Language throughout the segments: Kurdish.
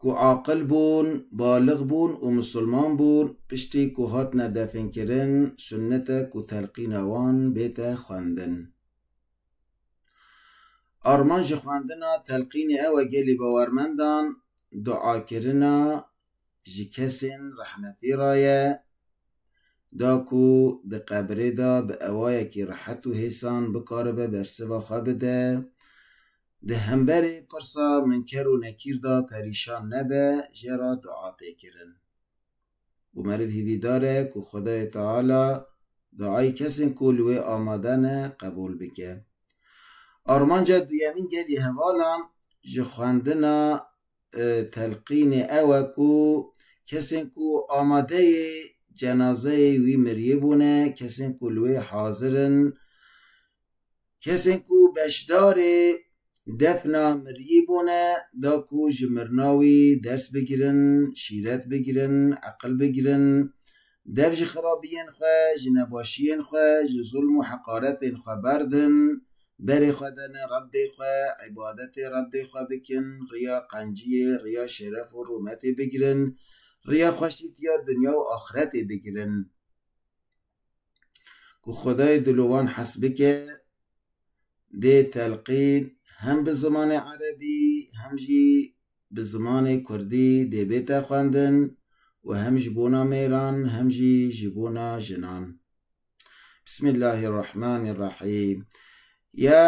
ku aqil bûn, balix bûn û misilman bûn, piştî ku hatine definkirin sunnetek û telqîna wan bête xwendin. Arman ji xwendina telqînê ew e gelî bawermendan duakirina ji kesên rehmetî re ye, da ku di qebirê de bi ewayekî rehet û hêsan bikaribe bersiva xwe bide, Di hemberê pirsa minker û nekîr de perîşan nebe, jê re dua tê kirin. Û meriv hîvîdar e ku Xwedayê Teala duayê kesên ku li wê amade ne qebûl bike. Armanca duyemîn gelê hevalan ji xwendina telqînê ew e ku kesên ku amadeyê cenazeyê wî miriyê bûne, kesên ku li wê hazir in Kesên ku beşdarê defna miriyî bûne da ku ji mirina wî ders bigirin, şîret bigirin, eqil bigirin, dev ji xerabiyên xwe, ji nebaşiyên xwe, ji zulm û heqaretên xwe berdin, berê xwe dene Rebbê xwe, îbadetê Rebbê xwe bikin, riya qenciyê, riya şeref û rûmetê bigirin, riya xweşîtiya dinya û axretê bigirin. ku xwedayê di li wan hes bike dê telqîn hem bi zimanê erebî hem jî bi zimanê kurdî dê bête xwendin û hem ji bona mêran hem jî ji bona jinan. Bismillahî Rehmanî Rehîm. Ya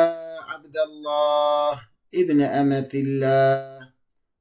Ebdallah ibn Emetîllah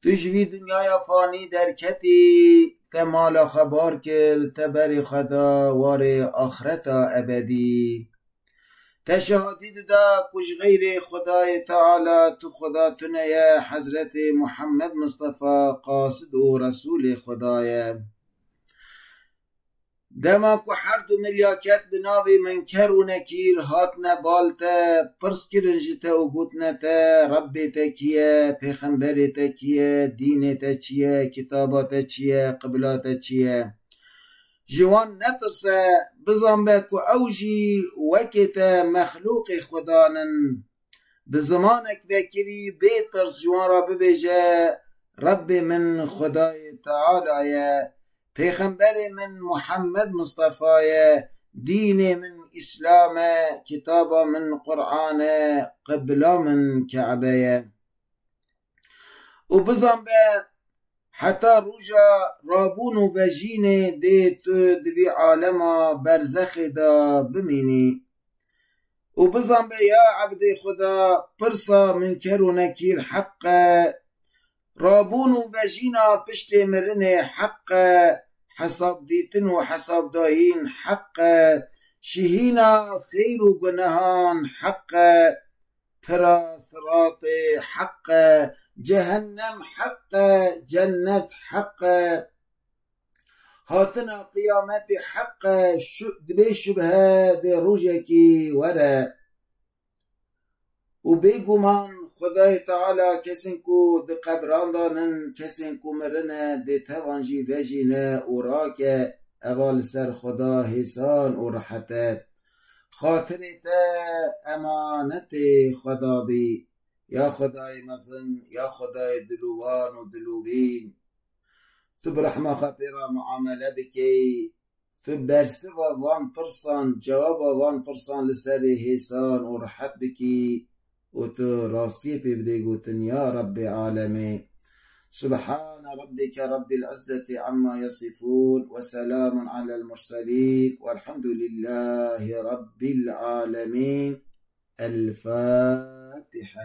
Tu ji vî dinyaya fanî derketî, te mala xwe bar kir, te berê xwe da warê axireta ebedî. Te şehatî dida ku ji xeyrê Xwedayê Teala tu Xweda tune ye, Hezretê Muhemmed Mistefa qasid û Resûlê Xweda ye. Dema ku her du milya ket bi navê Minker û Nekîr hatine bal te, pirs kirin ji te û gotine te, Rebbê te kî ye, pêxemberê te kî ye, dînê te çi ye, kitaba te çi ye, qibla te çi ye? Ji wan netirse, bizanbe ku ew jî wekê te mexlûqê Xwedan in. Bi zimanek vekirî bê tirs ji wan re bibêje, Rebbê min Xwedayê Teala ye, Pêxemberê min Muhammed Mistefa ye, dînê min Îslam e, kitaba min Quran e, qibla min Kebe ye. Û bizan be heta roja rabûn û vejînê dê tu di vî alema berzexê de bimînî. Û bizan be ya ebdê Xweda pirsa Minker û Nekîr heq e, Rabûn û vejîna piştê mirinê heq e, hesabdîtin û hesabdahîn heq e, şihîna xeyr û gunehan heq e, pira siratê heq e, cehennem heq e, cennet heq e, hatina qiyametê heq e, bê şubhe dê rojekî were. Û bêguman Xwedayê Teala kesên ku di qebran de in, kesên ku mirine dê tevan jî vejîne û rake, eva li ser Xweda hêsan û rehet e. Xatirê te emanetê Xweda bî, ya Xwedayê mezin, ya Xwedayê dil û wan û dil û vîn. Tu bi rehma xwe pê re miamele bikî. Tu bersiva van pirsan, cewaba van pirsan li serê hêsan û rihet bikî û tu rastiyê pê bidê gotin Ya Rebbê Alemê. Subhane Rebbike Rebbil Izzetî Amma Yesifûn ve Selamun Alel Murselîn Velhamdulillahî Rebbil Alemîn. El Fatiha.